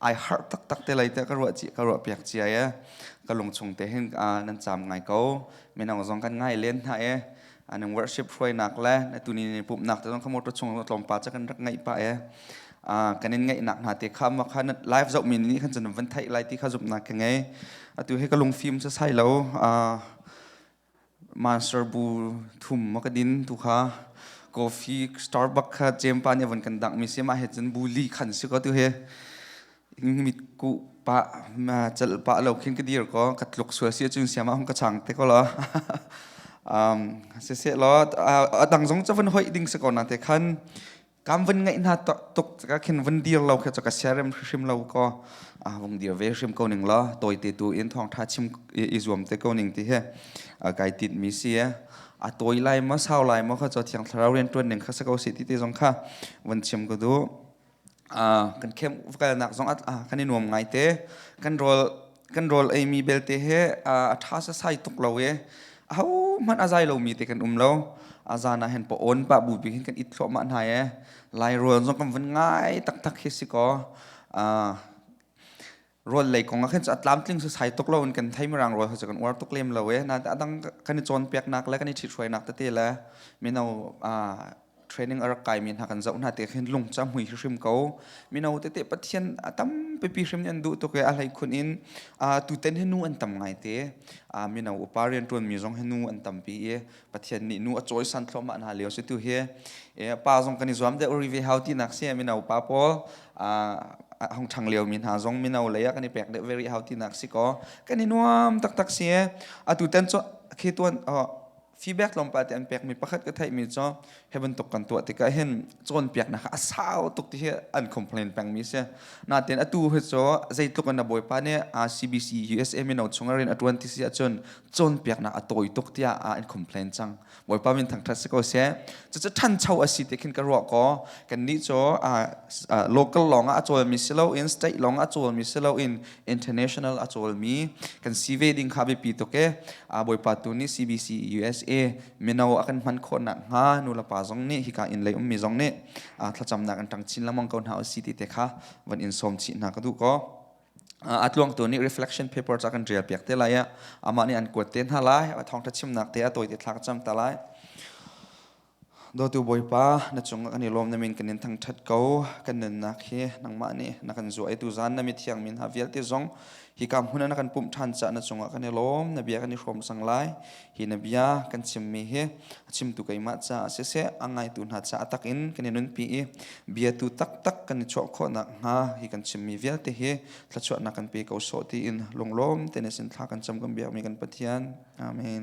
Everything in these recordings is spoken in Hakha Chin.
ai harh taktak te lei te ka ruah ci ka ruah piak cia ye ka lung chung te hin nan cham ngai ko minang zong kan ngai len hna e anang worship hruai nak le tuni ni pup nak te zong khamoto chung tlawm pa cha kan rak ngai pa e kan in ngai nak na te kham ma khan live zau min ni khan chan van thai lai ti kha zup na ke ngai atu he ka lung phim cha sai lo Master bu thum a ka din tu kha coffee Starbucks kha Jampa nih avon kan dangmi si mah he cun bu li khan si ko tu he in mit ku pa chal pa lo khin ka dir ko ka tluk sual si cun siama hong ka chang te ko lo um se se lo a dang zong chavon hoi ding se ko na te khan kam van ngai na tuk ka khin van dir lo khe ka siarem hrim lo ko a vung dir ve hrim ko ning la toy te tu in thong tha chim i zuam te ko ning ti he kai tit mi si e a toy lai ma sau lai ma kha cho thiang thlarau ren tuan ning kha sa ko si ti te zong kha van chim ko du a kan khem kal nak zong at a kan i nuam ngai te kan rol kan rawl ei mi belte he a tha sasai tuk lo i a ho hmanh a zai lo mi te kan um lo a zan ah hen pa on pa bu bik hin kan it thluahmah hna e lai rual zong kan vun ngai taktak hi si ko rual lei kong ah khin a tlamtling sasai tuk lo in kan thei marang rual hasa kan uar tuk lem lo e na adang kan i cawn pek nak le kan i thit hruai nak tete le mino training a rak kaimi hna kan zoh hna te khin lung ca hmui hrim ko mino tete pathian a tampipi hrim an duh tuk i a hlei khun in tuten hi nu an tam ngai te mino upa rian ṭuanmi zong hi nu an tampi i pathian nih nu a cawisan thlawmah hna lio si tu hi pa zong kan i zuam deuh ri ve hau tinak si mino pa pawl hong thang lio mi hna zong mino lei ah kan i pek deuh very hau tinak si ko kan i nuam taktak si atu ten cho khi tuan feedback tlawmpal te an pekmi pakhat ka theihmi cu hi bantuk kan tuah tikah hin cawnpiaknak a sau tuk ti hi an complain pengmi si natin atu hi cu zeitluk in a bawipa nih CBC USA mino chung rin a tuan ti si ahcun cawnpiaknak a tawi tuk tiah an complain cang bawipa min thangthat si ko se cucu thancho a si ti khin ka ruah ko kan nih cu local lawng ah a cawlmi si loin state lawng ah a cawlmi si loin international a cawlmi kan si ve ding kha biapi tuk e a bawipa tu ni CBC USA mino a kan hman khawnak hnga nu le pa zong nih hika in lei ummi zong nih thlacamnak an tang chin lamang ko hna si ti te kha van in som chi hna ka du ko a tluang tu ni reflection paper cha kan ṭial piak te lai amah nih an kuat te hna lai a thawngṭha chimnak te a tawi te thlak cham ta lai Dawtu Bawipa, na cung kan i lawm na min kan in thangṭhat ko. Kan nunnak hi nangmah nih na kan zuaitu zan na mithiang min ha vialte zong hi ka hmun ah na kan pumh ṭhan caah na cungah kan i lawm. Na bia kan i hrawm cang lai. Hi na bia kan chimmi hi a chimtu keimah caah siseh, a ngaitu hna caah tak in kan i nunpi i biatu taktak kan i chuah khawhnak hnga hi kan chimmi vialte hi thluachuahnak kan pe ko sawh tiin lunglawm tein sin thla kan cam kan biakmi kan Pathian. Amen.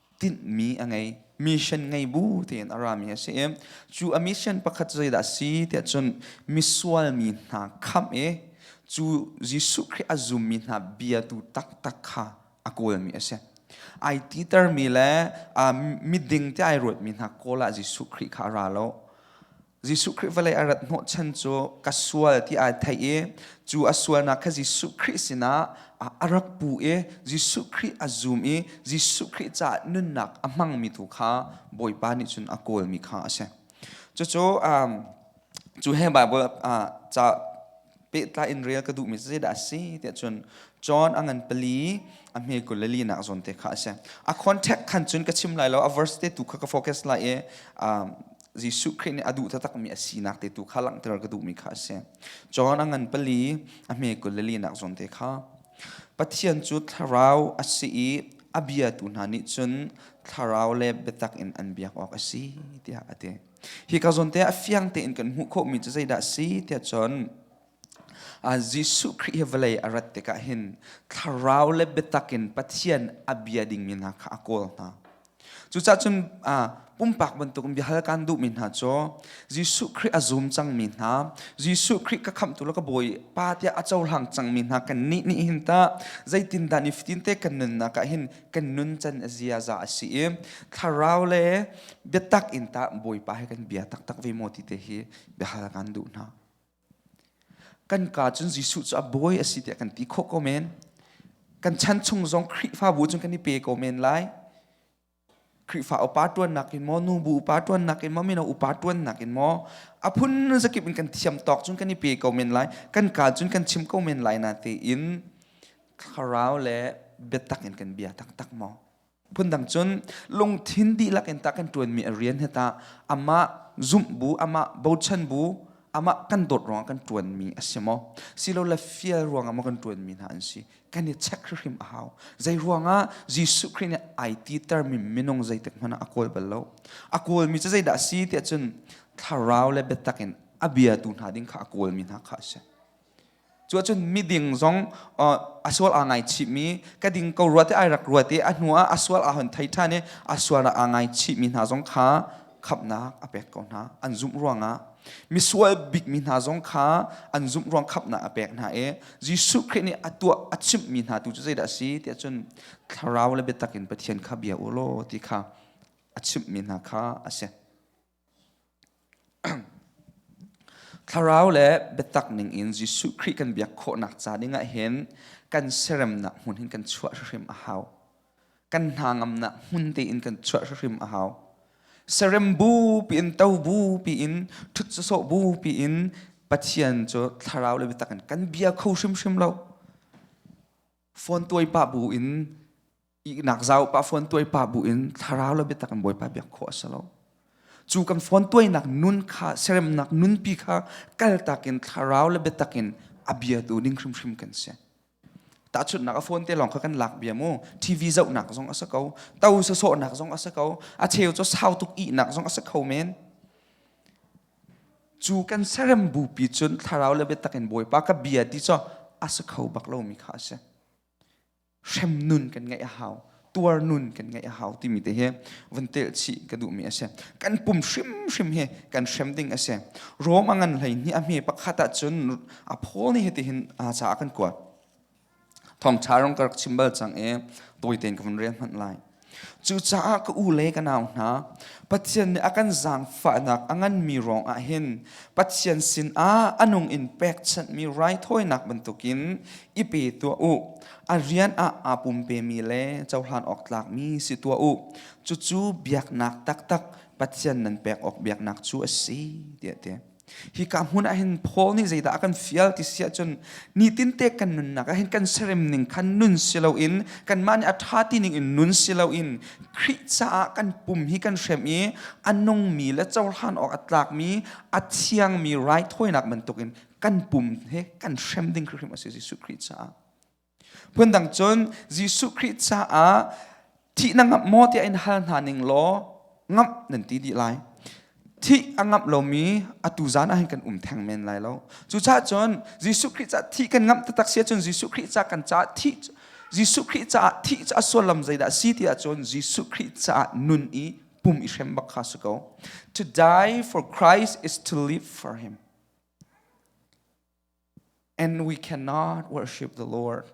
tinhmi a ngei mission ngei bu tiin a rami a si i cu a mission pakhat zeidah a si tiah cun misual mi hna khamh i cu Jesuh Khrih a zummi hna biatu taktak kha a kawlmi a si ai titermi le miding ti ai ruatmi hna kawl ah Jesuh Khrih kha a ra lo Jesuh Khrih vawlei a rat hnawh chan cu ka sual ti ai thei i cu a sualnak kha Jesuh Khrih sinah a rak pu i Jesuh Khrih a zum i Jesuh Khrih caah nunnak a hmangmi tu kha Bawipa nih cun a kawlmi kha a si. Cucu cu he Baibal ca pehtlai in rel ka duhmi zeidah a si tiah cun John a ngan pali a hme kul le linak zawn te kha a si a context khan cun ka chim lai lo a verse te tu kha ka focus lai i um, Jesuh Khrih nih a duh taktakmi a sinak te tu kha langhter ka duhmi kha a si John a ngan pali a hme kul le linak zawn te kha Pathian cu thlarau a si i a biatu hna nih cun thlarau le biatak in an biak awk a si tiah a ti Hi ka zawn te a fiang tein kan hmuh khawh mi cu zeidah si tiah cun uh, Jesuh Khrih hi vawlei a rat tikah hin thlarau le biatak in Pathian a bia dingmi hna kha a kawl hna. Cucaah cun uh, pumpak bantuk in biahal kan duhmi hna cu Jesuh Khrih a zum cangmi hna Jesuh Khrih ka khamtu le ka bawi pa tiah a cohlang cangmi hna kan nih nih hin ta zeitindah ni fitin te kan nunnak ah hin kan nun can a ziaza a si i thlarau le biatak in ta bawipa he kan bia taktak ve mo ti te hi biahal kan duh hna kan ka cun Jesuh cu a bawi a si tiah kan ti khawh ko men kan chan chung zong Khrihfabu cun kan i pe ko men lai Khrihfa upa tuannak in maw nu bu upa tuannak in maw mino upa tuannak in maw a phun zakip in kan thiam tawk cun kan i pe ko men lai kan ka cun kan chim ko men lai na te in thlarau le biatak in kan bia taktak maw phundang cun lungthin dihlak in tak in ṭuanmi a rian he ta amah zumh bu amah bochan bu amah kan dawt ruangah kan ṭuanmi a si maw silo le fial ruangah maw kan ṭuanmi hna an si kan i check hrim a hau zei ruangah Jesuh Christ nih ai ti termi minung zeitik hmanh ah a kawl bal lo a kawlmi cu zeidah a si tiah cun thlarau le biatak in a biatu hna ding kha a kawlmi hna kha a si cu ahcun miding zong a sual aa ngaichihmi ka ding ko ruat i ai rak ruat i a hnu ah a sual aa hon thei ṭhan i a sual ah aa ngaichihmi hna zong kha khamnak a pek ko hna an zumh ruangah misual bikmi hna zong kha an zumh ruang khamnak a pek hna i Jesuh Khrih nih a tuah a chimhmi hna tu cu zeidah a si tiah cun thlarau le biatak in Pathian kha bia u law ti kha a chimhmi hna kha a si. Thlarau le biatak ning in Jesuh Khrih kan biak khawhnak ca dingah hin kan seremnak hmun hin kan chuah hrim a hau. Kan hna ngamnak hmun tein kan chuah hrim a hau. Serem bu piin to bu piin thut sawh bu piin Pathian cu thlarau le biatak in kan bia kho hrimhrim lo. Phone tuai pa bu in ihnak zau pa phone tuai pa bu in thlarau lo biatak in bawipa biak khawh a si lo cu kan phone tuainak nun kha seremnak nunpi kha kaltak in thlarau le biatak in a bia tu ning hrimhrim kan si tahchunnak a phone te lawng kha kan lak bia mu tv zohnak zong a si ko to sa sawhnak zong a si ko a cheu cu sau tuk ihnak zong a si kho men cu kan serem bu pi cun thlarau le biatak in bawipa ka bia ti cho a si kho bak lo mi kha a si hrem nun kan ngeih a hau tuar nun kan ngeih a hau timi te hi vun tel chi ka duh mi a si kan pum hrimhrim hi kan hrem ding a si rom a ngan hlei ni a hme pakhat ah cun a phawl ni hi ti hin a ca kan kuat thong tha rong ka rak chim bal cang i tawi ten ka vun rian hmanh lai Cucaah ka u le ka nau hna, Pathian nih a kan zaangfahnak a nganmi ruangah hin Pathian sinah a nung in pekchanhmi raithawinak bantukin i pe tuah u. A rian ah aa pumpemi le cohlan awk tlakmi si tuah u. Cucu biaknak taktak Pathian nan pek awk biaknak cu a si, tiah ti. hi ka hmun ah hin Paul nih zeidah a kan fial ti si ahcun nitin te kan nunnak ah hin kan serem ning khan nun si loin kanmah nih a ṭha ti ning in nun si loin Khrih caah kan pum hi kan hrem i a nungmi le cohlan awk a tlakmi a thiangmi raithawinak bantukin kan pum he kan hrem ding hrim a si Jesuh Khrih caah Phundang cun Jesuh Khrih caah thih na ngamh maw tiah in hal hna ning law ngamh nan ti dih lai. Thih a ngamh lomi atu zan ah hin kan um theng men lai lo. Cucaah cun Jesuh Khrih caah thih kan ngamh taktak si ahcun Jesuh Khrih caah kan caah thih Jesuh Khrih caah thih cu a suallam zeidah a si ti ahcun Jesuh Khrih caah nun i pum i hrem bak kha si ko. To die for Christ is to live for him. And we cannot worship the Lord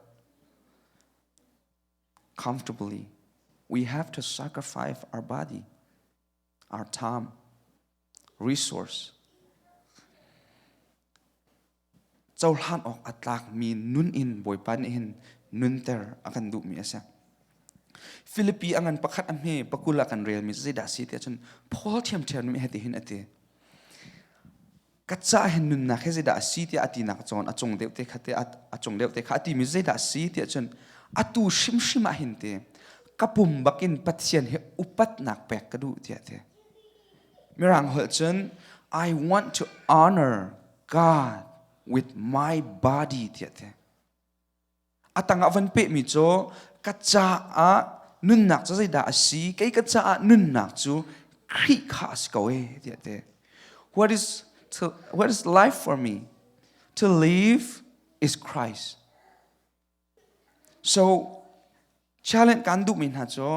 comfortably. We have to sacrifice our body, our time, resource. Cohlan awk a tlakmi nun in bawipa nih hin nunter a kan duhmi a si. Philippi a ngan pakhat a hme pakul a kan relmi zeidah si ti ahcun Paul thiamthiammi he ti hin a ti. ka caah hin nunnak hi zeidah a si tiah a tinak cawn a cung deuh te kha te a cung deuh te kha a timi zeidah a si tiah cun a tu hrimhrim ah hin te ka pum bakin Pathian hi upatnak pek ka duh tiah te Mirang holh cun I want to honor God with my body tiah te a tangah van pehmi cu ka caah nunnak cu zeidah a si kei ka caah nunnak cu Khrih kha a si ko e tiah te what is to what is life for me to live is Christ so Challenge kan duhmi hna cu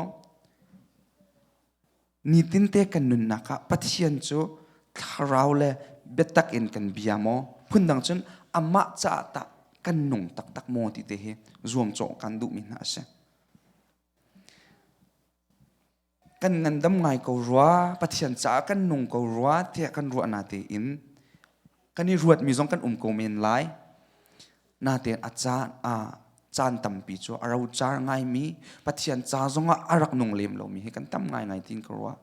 nitin te kan nunnak ah Pathian cu thlarau le biatak in kan bia maw phundang cun amah caah tah kan nung taktak maw ti te hi zuamcawh kan duhmi hna a si. kan ngandam ngai ko rua pathian caah kan nung ko rua tiah kan ruah na tein kan i ruat mi zong kan um ko men lai na tein a caan a caan tampi cu a ro car ngai mi pathian ca zong ah a rak nung lem lo mi hi kan tam ngai ngai tin ko rua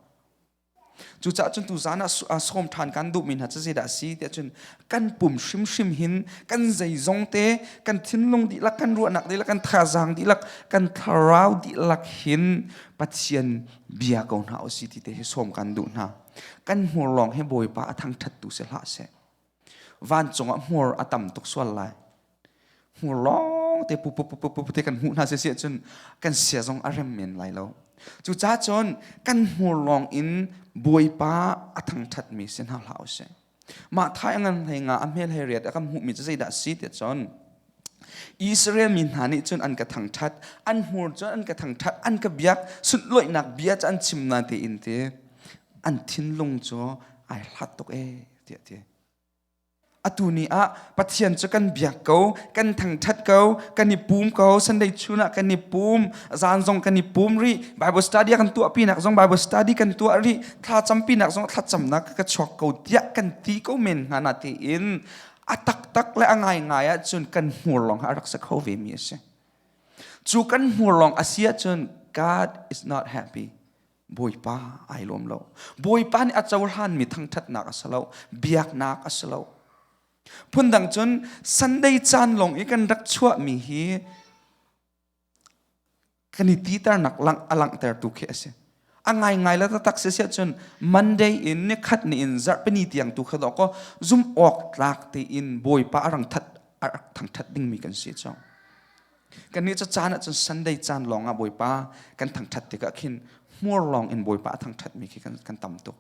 cucah cun tu zan ah sawm ṭhan kan duh mi hna cu zeidah a si tiah cun kan pum hrimhrim hin kan zeizong te kan thinlung dihlak kan ruahnak dihlak kan thazaang dihlak kan thlarau dihlak hin pathian bia ko hna osi ti te hi som kan duh hna kan hmur lawng hi bawipa a thang thattu se hlah se vancung ah hmur a tam tuk sual lai hmur lawng te pupupupupu te kan hmuh hna sisi ahcun kan sia zong a rem men lai lo cucaah cun kan hmur lawng in bawipa a thangṭhatmi si hna hlah usih mah thai a ngan hlei nga a hmel hei riat a kan hmuhmi cu zeidah si tiah cun Israel mi hna nih cun an ka thangṭhat an hmur cun an ka thangṭhat an ka biak sunhlawihnak bia cu an chim na tein ti an thinlung cu ai hlat tuk ee tiah ti atu ni ah Pathian cu kan biak ko kan thangṭhat ko kan i pum ko Sunday chun ah kan i pum zan zong kan i pum rih Bible study kan tuah pinak zong Bible study kan tuah rih thlacam pinak zong thlacamnak ka chuak ko tiah kan ti ko men hna na tiin a taktak le a ngaingai ahcun kan hmur lawng a rak se kho ve mi a si cu kan hmur lawng a si ahcun God is not happy bawipa ai lawm lo bawipa nih a cohlanmi thangṭhatnak a si lo biaknak a si lo phundang cun sunday caan lawng i kan rak chuahmi hi kan i titernak a langhtertu khi a si a ngaingai la taktak si si cun monday in ni khat ni in zarhpini tiang tu kha dawk ko zum awk tlak tein bawipa a rang that a rak thangthat dingmi kan si cang Kannih cu caan ahcun Sunday caan lawngah Bawipa kan thangṭhat tikah khin hmur lawng in Bawipa a thangṭhatmi khi kan, kan tam tuk.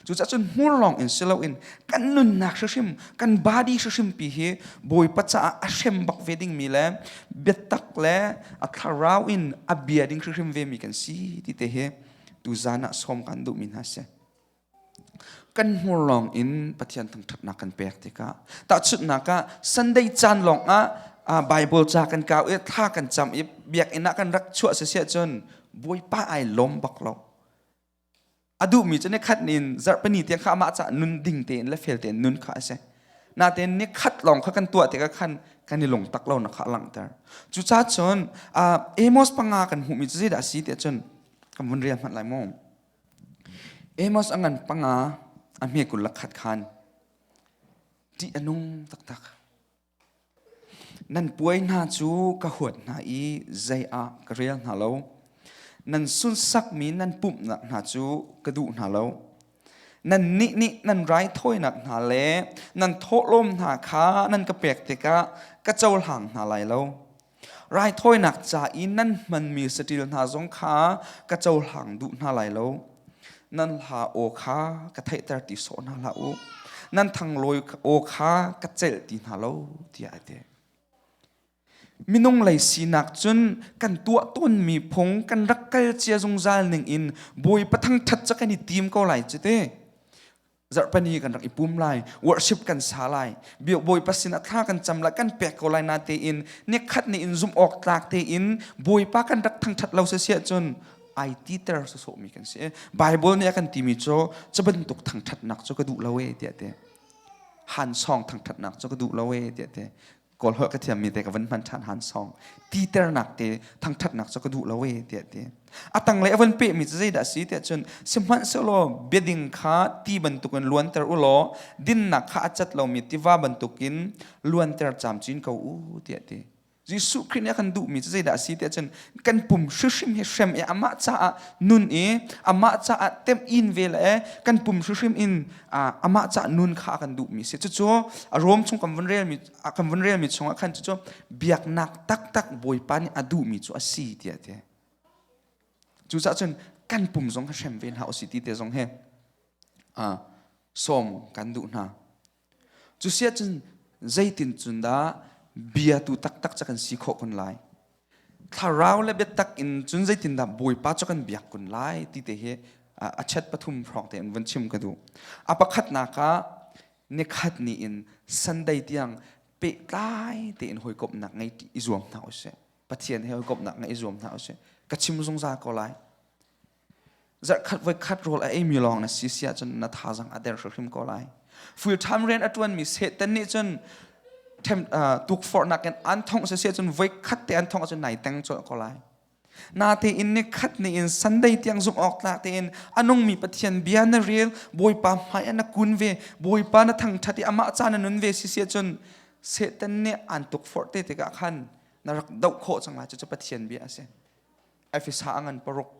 Cucahcun hmur lawng in si loin kan nunnak hrim kan body hrim pi hi Bawipa caah a hrem bak ve dingmi le biatak le a thlarau in a bia ding hrim ve mi kan si ti te hi tuzan ah sawm kan duhmi hna si. kan hmur lawng in Pathian thangṭhatnak kan pek tikah tahchunhnak ah Sunday caan lawng ah Bible ca kan kau i thla kan cam i biakinn ah kan rak chuah sisiah cun bawipa ai lawm bak lo a duhmi cu ni khat nin zarhpani tiang kha amah cah nun ding tein le fel tein nun kha a si natein ni khat lawng kha kan tuah tikah khan kan i lungtak lo na kha langhter cucacun Amos panga kan hmuhmi cu zeidah a si tiah cun kan vun rial hmanh lai mu Amos a ngan panga a hme kul lakhat khan ṭih a nung taktak. Nan puai hna cu ka huat hna i zei ah ka rel hna lo. Nan sunsakmi nan pumhnak hna cu ka duh hna lo. Nan nih nih nan raithawinak hna le nan thawhlawm hna kha nan ka pek tikah ka cohlang hna lai lo. raithawinak ca i nan hmanmi saṭil hna zong kha ka cohlang duh hna lai lo. Nan hla aw kha ka theihter ti sawh hna hlah u. Nan thanglawi aw kha ka celh ti hna lo, tiah a ti. Minung lei sinak cun kan tuah tawnmi phung kan rak kal cia zungzal ning in Bawipa thangṭhat cu kan i tim ko lai cu te. zarhpani kan rak i pum lai worship kan sa lai bio bawipa sin athla kan cam lai kan pek ko lai na tein ne khat ne in zum awk tlak tein bawipa kan rak thangthat lo se sia cun ai ti ter so so mi kan si bible nih a kan timi cu cabantuk thangthatnak cu ka duh lo e tiah te han song thangthatnak cu ka duh lo e tiah te kawl holh ka thiammi te ka van hman ṭhan han song titernak te thangṭhatnak cu ka duh lo e tiah ti a tanglei a van pehmi cu zeidah si tiah cun sihmanhsehlaw biading kha ti bantuk in luanter u law dinnak kha a cat lomi tiva bantukin luanter camcin ko u tiah ti Jesuh Khrih nih a kan duhmi cu zeidah a si tiah cun kan pum hrim hi hrem i amah caah nun i amah caah tem in ve le kan pum hrim in amah caah nun kha a kan duh mi si cucu a rom chung kan vun rel mi kan vun rel mi chung ah khan cucu biaknak taktak bawipa nih a duh mi cu a si tiah ti cucah cun kan pum zong kha hrem ve hna u si ti te zong he sawm kan duh hna Cu sia cun zeitin cun dah bia tu taktak ca kan si khawh kun lai. Thlarau le biatak in cun zeitin dah Bawipa cu kan biak kun lai ti te hi a chat pathum hrawng te in vun chim ka duh. A pakhatnak ah nikhat ni in Sunday tiang pehtlai tein hawikomhnak ngei i zuam hna usih. Pathian he hawikomhnak ngei i zuam hna usih. Ka chim zungzal ko lai. zarhkhat voikhat rawl a eimi lawng na si si ahcun na thazang a der hrimhrim ko lai full time rian a ṭuanmi Satan nih cun tukforhnak in an thongh siseh cun voikhat te an thongh ahcun nai teng cawlh ko lai natein ni khat ni in sunday tiang zumh awk tlak tein a nungmi pathian bia na rel bawipa hmai na kun ve bawipa na thangṭhat i amah ca na nun ve siseh cun Satan nih an tukforh te tikah khan na rak doh khawh cang lai cucu pathian bia a si Efesa a ngan paruk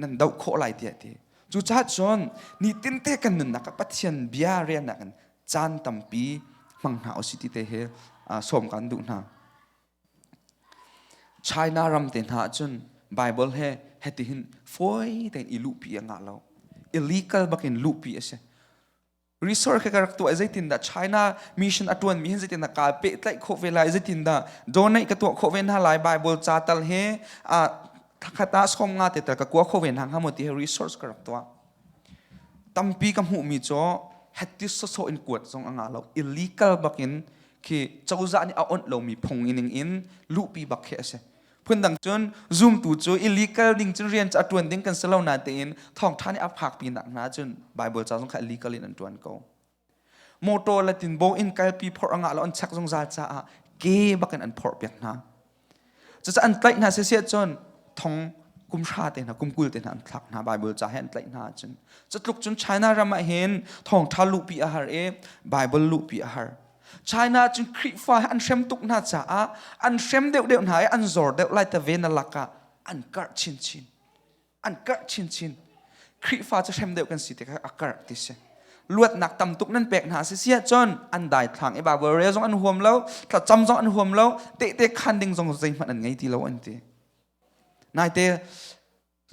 nan doh khawh lai tiah ti cucaah cun nitin te kan nunnak ah Pathian bia riannak in caan tampi hmang hna usih ti te he sawm kan duh hna China ram te hna cun Bible he hetihin fawi tein i luhpi a ngah lo illegal bakin luhpi a si research ka rak tuah zeitindah China mission a tuan mi hin zeitindah ka pehtlaih khawh ve lai zeitindah donate ka tuah khawh ve hna lai Bible ca tal he a thakhat ah som nga te tal ka kua khawh ve hna hnga mo ti he research ka rak tuah tampi ka hmuh mi cho hatti soso in kuat zong anga lo illegal bakin khi cozah nih a onh lo mi phung in in luhpi bak khi ase Phundang cun zumtu cu i legal ding cun rian cu a ṭuan ding kan si lo natein thawngṭha nih a phak pinak hna cun Baibal ca zong kha legal in an ṭuan ko. Motor le tinbaw in kalpi phorh a ngah lo an chek zungzal caah ke bakin an phorh piak hna. Cucaah an tlaih hna sisiah cun thong kum hra te hna, kum kul te hna an thlak hna Baibal ca he an tlaih hna cun. Cutluk cun China ram ah hin thawngṭha luhpi a har i Baibal luhpi a har. China cu Khrihfa an hrem tuk hna caah an hrem deuhdeuh hna i an zor deuh lai ta ve na lakah an karh chinchin an karh chinchin Khrihfa cu hrem deuh kan si tikah a karh ti si luatnak tam tuk nan pek hna si si ahcun an daithlang i barbarian zong an huam lo thlacam zong an huam lo tehte khan ding zong zeihmanh an ngei ti lo an ti naite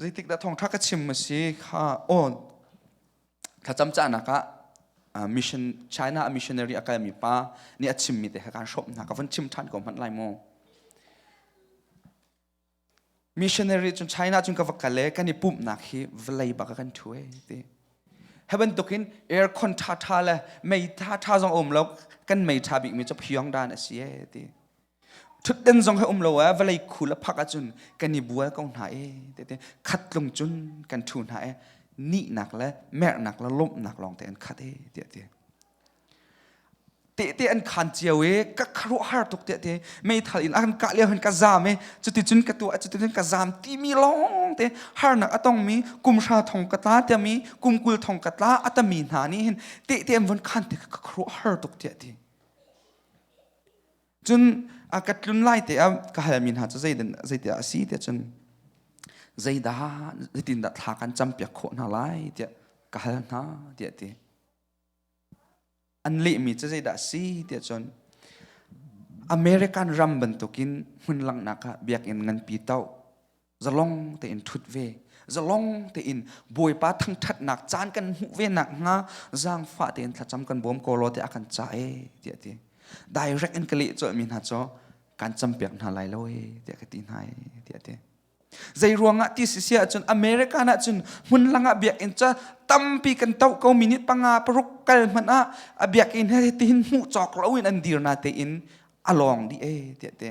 zeitik dah thawngṭha ka chim a si kha aw thlacam cahnak ah mission China a missionary a kalmi pa nih a chimmi te kha kaan hrawmh hna ka van chim ṭhan ko hmanh lai mu missionary cun China cun ka va kal e kan i pumhnak hi vlei bak kan thu e ti he bantukin aircon ṭha ṭha le mei ṭha ṭha zong a um lo kan mei ṭha bikmi cu phiong dan a si e ti Thutden zong he um lo ah vawlei khu le phak ahcun kan i bual ko hna i tete khat tlung cun kan thu hna i nihnak le merhnak le lawmhnak lawng te an khat e tiah ti tehte an khan cio i ka kharuah har tuk tiah te meithal in a kan kah lio hin ka zam i cuticun ka tu cuticun ka zam timi lawng te harnak a tongmi kumhra thong ka tla tiami kumkul thong ka tla atami hna nih hin tehte an von khan te ka kharuah har tuk tiah ti Cun a ka tlun lai te ah ka halmi hna cu zeidan zeitiah a si tiah cun zeidah zeitindah thla kan campiak khawh hna lai tiah ka hal hna tiah ti an lehmi cu zeidah a si tiah cun American ram bantukin hmun langhnak ah biakinn nganpi to zalong tein thut ve zalong tein bawipa thangthatnak caan kan hmuh ve nak hnga zangfah tein thlacam kan bawm ko lo te a kan ca e ti ti direct in ka leh cawh mi hna cho kan campiak hna lai lo e ti ka ti hna e ti ti zei ruangah ti si sia cun america na cun hmun langa biak in ca tampi kan tau ko minute panga paruk kal man a a biak in he tin mu chok lo in an dir na te in along di e ti ti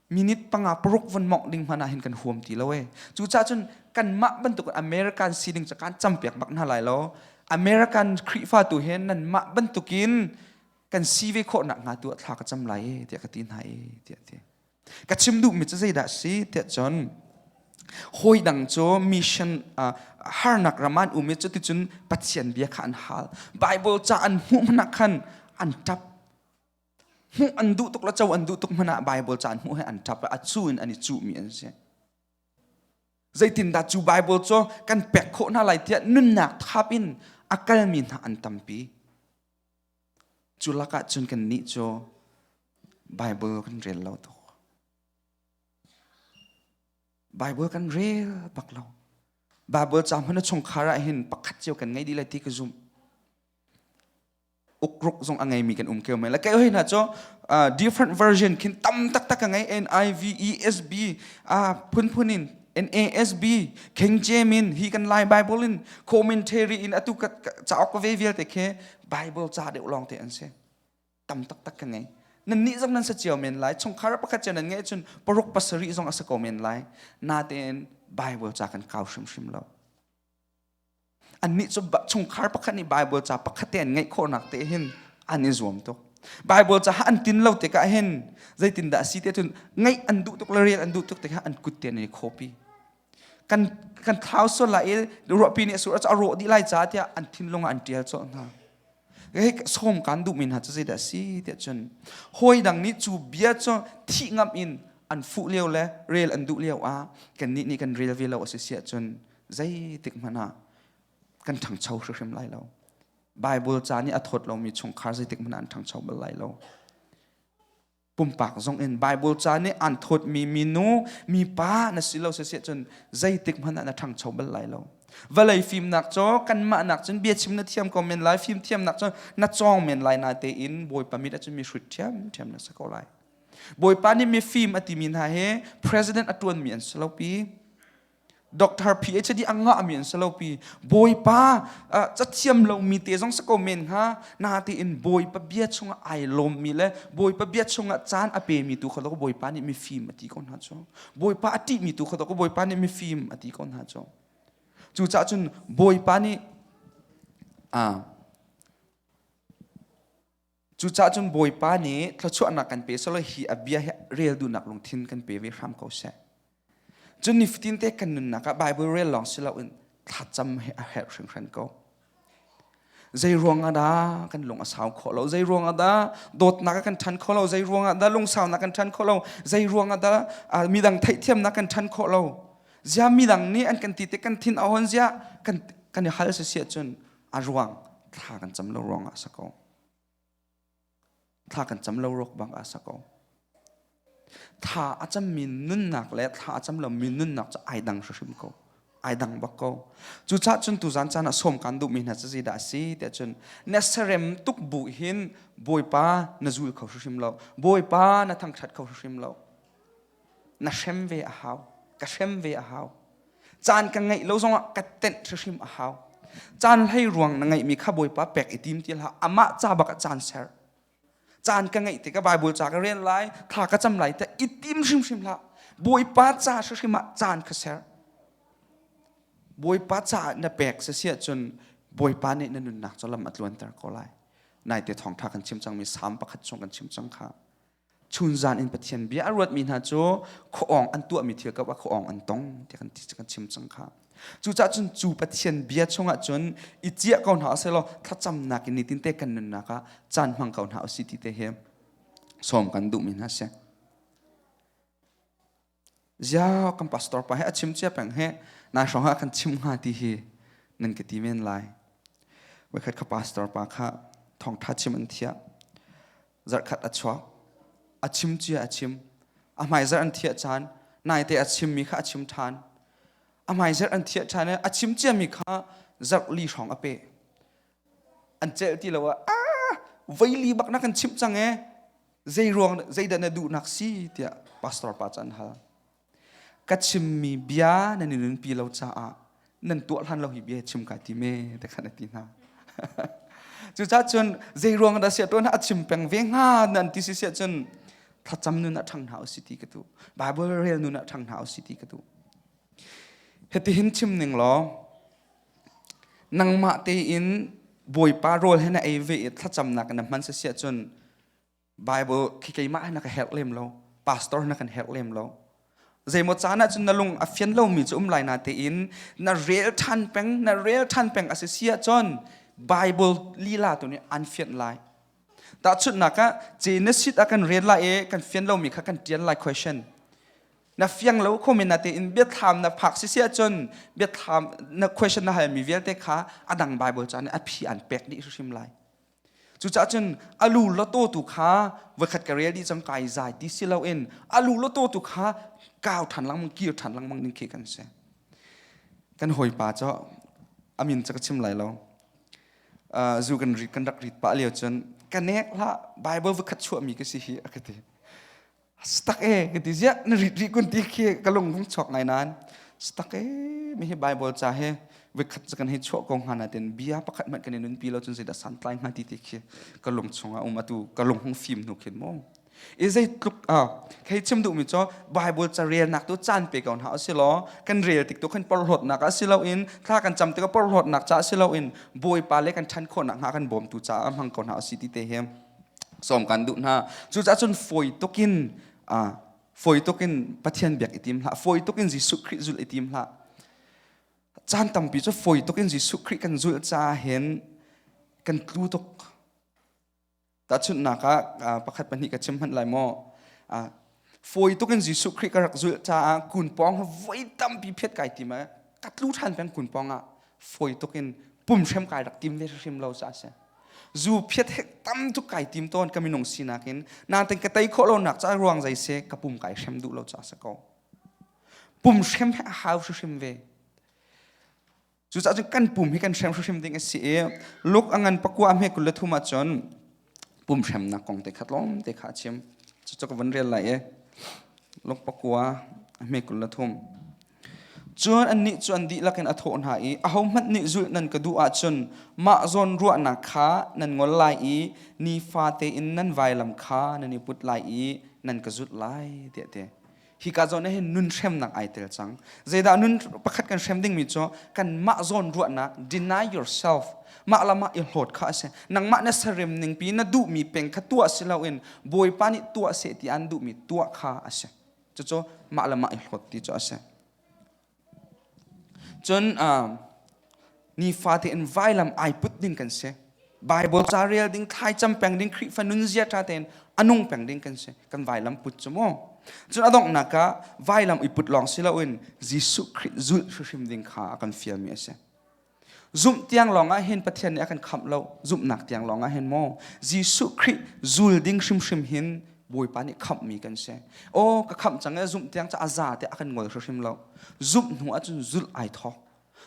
minute panga paruk von mongh ding hmanh ah hin kan huam ti lo e cu ca cun kan mah bantuk american sining ca kan campiak bak hna lai lo american khrihfa tu he nan mah bantukin kan si ve khawh nak hnga tu thla ka cam lai e tiah ka ti hna e tiah ti ka chim duh mi cu zeidah si tiah cun hoi dang cu mission uh, harnak raman umi cu ticun pathian bia kha an hal bible ca an hmuh hna khan an tap hmuh an duh tuk le co an duh tuk hmanh ah Bible caan hmuh he an ṭap a cu in an i cuhmi an si zeitindah cu Bible cu kan pek khawh hna lai tiah nunnak thap in a kalmi hna an tampi cu lakah cun kan nih cu Bible kan rel lo tuk Bible kan rel bak lo Bible caam hun a chungkhar ah hin pakhat cio kan ngei dih lai ti ka zumh ukruk zong a ngei mi kan um keu mai la kai hoi na cho uh, different version khin tam tak tak ka ngai NIVESB uh, phun phun in NASB King in hi kan lai bible in commentary in atu ka chaok ka ve vialte khe bible cha deuh long te an se tam tak tak ka ngai nan ni zong nan sa chiao men lai chung khar pakhat chen nan ngai chun paruk pasari zong asa ko men lai na te bible cha kan kau shim shim lo Annih cu chungkhar pakhat nih Baibal ca pakhat te an ngeih khawhnak te hin an i zuam tuk. Bible ca an tin lo tikah hin zeitindah a si te cun ngaih an duh tuk le rial an duh tuk tikah an kut te an i khawpi. Kan kan thlau sual lai i ruahpi nih a sur a rawh dih lai ca tiah an thinlung an ṭial cawlh hna. Hei sawm kan duhmi hna cu zeidah a si tiah cun hawi dang nih cu bia cu thih ngam in an fuh lio le rel an duh lio ah kannih nih kan rel ve lo a si siah cun zeitik hmanh ah kan ṭhangcho hrimhrim lai lo. Bible ca nih a thawt lomi chungkhar zeitik hmanh ah an ṭhangcho bal lai lo. Pumpak zong in Bible ca nih an thawtmi minu mipa na si lo siseh cun zeitik hmanh ah na ṭhangcho bal lai lo. Vawlei fimnak cu kanmah nak cun bia chim na thiam ko men lai, fim thiamnak cu na cawng men lai na tein Bawipa mit a cun mi hrut ṭhiamṭhiam na si ko lai. Bawipa nih mifim a timi hna hi president a ṭuanmi an si lopi, Doctor PhD a ngahmi an si lo pi. Bawipa cathiam lomi te zong si ko men ha. Na tein Bawipa bia chungah ai lawmmi le Bawipa bia chungah caan a pemi tu kha lo Bawipa nih mifim a ti ko hna cu. Bawipa a ṭihmi tu kha lo Bawipa nih mifim a ti ko hna cu. Cucaah cun Bawipa nih Cucah cun Bawipa nih thluachuahnak kan pe solo hi a bia hi rel dunak lungthin kan pe ve hram ko seh. Cun nifatin te kan nunnak ah Bible rel lawng si loin thlacam he a herh hringhran ko. Zei ruangah dah kan lung a sau khawh lo? Zei ruangah dah dawtnak kan ṭhan khawh lo? Zei ruangah dah lungsaunak kan ṭhan khawh lo? Zei ruangah dah midang theihthiamnak kan ṭhan khawh lo? Zia midang nih an kan ti te kan thin a hon zia kan kan i hal sisia cun a ruang thla kan cam lo ruangah a si ko. thla kan cam lo rok bang a sako tha a cammi nunnak le thla a cam lomi nunnak cu ai dang hrim ko ai dang bak ko cu ca cun tu zan caan a som kan duhmi hna cazi dah si te cun na serem tuk bu hin bawipa na zul kho hrim lo bawipa na thangthat kho hrim lo na hrem ve a hau ka hrem ve a hau caan ka ngeih lo zongah ka tenh hrihrim a hau caan hlei ruang na ngeihmi kha bawipa pek i tim ti hlah amah ca bak a caan ser caan ka ngeih tikah baibul ca ka rel lai thla ka cam lai te i tim hrimhrim hlah bawipa ca hrimhrim ah caan ka ser bawipa caah na pek si si ahcun bawipa nih na nunnak cu lam a tluanter ko lai naite thawngtha kan chim cangmi salm pakhat chung kan chim cang kha chunzan in pathian bia a ruatmi hna cu khoong an tuahmi thil kap ah khoong an tong tiah kan ti kan chim cang kha cucah cun cu pathian bia chungah cun i ciah ko hna selaw thlacamnak in nitin te kan nunnak ah caan hmang ko hna usi ti te hi som kan duhmi hna si Zia kan pastor pa he a chim cia peng he nai hrawng ha kan chim nga ti hi nan ka ti men lai. Wekhat ka pastor pa kha thongtha chim an thia. Zarkhat a chuak. A chim cia a chim. A hmai zarh an thia chan. Nai te a chim mi kha a chim than. A hmai zarh an thia than i a chim cia mi kha zarh li hrawng a pe. an celh ti lo ah ah veili bak na kan chimh cang e zeiruang zeidah na duhnak si tiah pastor pa cu an hal ka chimmi bia nan i nunpi lo caah nan tuah hlan lo hi bia chim ka ti me te khan a ti hna cucaah cun zeiruang dah sia tuan a chim peng ve hnga nan ti si sia cun thlacam nun ah ṭhang hna u si ti ka tu bible rel nun ah ṭhang hna u si ti ka tu hetihin chim ning law nangmah tein Bawipa rawl he na ei ve i thlacamnak in na hman sasiah cun Bible khi keimah he na ka herh lem lo pastor na kan herh lem lo zeimaw caan ah cun na lung a fian lomi cu um lai na tein na rel ṭhan peng na rel ṭhan peng a si siah cun Bible lila tu nih an fianh lai Tahchunhnak ah, ce na sit ah kan rian lai i kan fian lomi kha kan ṭial lai question. Na fiang lo khomi na tein biathlam na phak sisi ahcun biathlam na question na halmi vialte kha a dang Bible ca nih a phi an pek dih hrim lai. Cucaah cun a lu loto tu kha voikhat ka rel dih cang kai zai ti si loin a lu loto tu kha kau ṭhan langmang kir ṭhan langmang ning khi kan si. Kan hawipa cu amin ca ka chim lai lo. zu kan rit kan rak rit pah lio cun ka nek hlah bible vakhat chuah mi ka si hi a ka ti stak e ka ti ziah na rit ri kun ti khi ka lung lung chok ngai nan stak e mi hi bible cha he vekhat kan hei chuah ko hana ten bia pakhat man kan nun pi lo chun sei da san tlai nga ti ti khi ka lung chunga um atu ka lung hung fim nu khin mo i zeitluk a thei chim duhmi cu Bible ca relnak tu caan pe ko hna si law kan rel tik tu kan porhlawtnak a si loin thla kan cam tik a porhlawtnak ca si loin bawipa le kan ṭhan khawhnak hnga kan bawm tu caah hmang ko hna si ti te hi som kan duh hna cucaah cun fawi tukin a fawi tukin Pathian biak i tim hlah fawi tukin Jesuh Khrih zul i tim hlah caan tampi cu fawi tukin Jesuh Khrih kan zul caah hin kan tlu tuk Tahchunhnak ah pakhat pahnih ka chim hmanh lai maw. Fawi tuk in Jesuh Khrih ka rak zulh caah kun pawng voi tampi phet kai tim i ka tlu ṭhan peng kun pawng ah fawi tuk in pum hrem kai rak tim ve hrim lo ca a si. Zu phiat hek tam tuk kai tim tawn ka minung sinak in natin ka tei khawh lonak ca ruang zai se ka pum kai hrem duh lo ca a si ko. Pum hrem he a hau hrim ve. Cucaah cu kan pum hi kan hrem hrimhrim ding a si i luk a ngan pakua a hme kul le thum ahcun pum hremnak kong te khat lawm te kha a chim. Cucu ka van rel lai i luk pakua a hme kul le thum. Cun annih cu an dihlak in a thawh hna i ahohmanh nih zulh nan ka duh ahcun mah zawn ruahnak kha nan ngol lai i nifate in nan vailam kha nan i put lai i nan ka zulh lai tiah ti. hika zawn hin nun hremnak ai tel cang zeidah nun pakhat kan hrem dingmi cu kan mah zawn ruahnak deny yourself mah lam ah i hlawt kha a si nangmah na serem ning pi na duhmi peng kha tuah si loin bawipa nih tuah seh ti an duhmi tuah kha a si cucu mah lam ah i hlawt ti cu a si Cun um, nifate in vailam ai put ding kan si. Bible ca rel ding, thlaicam peng ding, Khrihfa nunzia ṭha tein anung peng ding kan si. Kan vailam put cu mu. Cun adongh naka vailam i put lawng si loin Jesuh Khrih zulh hrimhrim ding kha a kan fialmi a si. Zumh tiang lawngah hin Pathian nih a kan khamh lo. Zumhnak tiang lawngah hin maw Jesuh Khrih zul ding hrimhrim hin Bawipa nih khamhmi kan si. Aw ka khamh cang i zumh tiang cu a za tiah a kan ngol hrimhrim lo. Zumh hnu ahcun zulh ai thawk.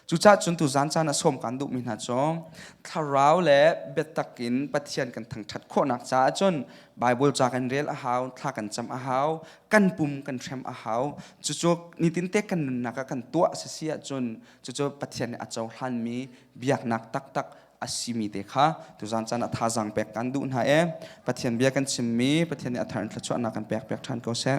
Cucaah cun tu zan caan ah sawm kaan duhmi hna cu thlarau le biatak in Pathian kan thangṭhat khawhnak caah cun Baibal ca kan rel a hau, thla kan cam a hau, kan pum kan hrem a hau. Cucu nitin te kan nunnak ah kan tuah a si si ahcun cucu Pathian nih a cohlanmi biaknak taktak a simi te kha tuzan caan ah thazang pek kan duh hna e Pathian bia kan chimmi Pathian nih a thar in thluachuahnak kan pek piak ṭhan ko seh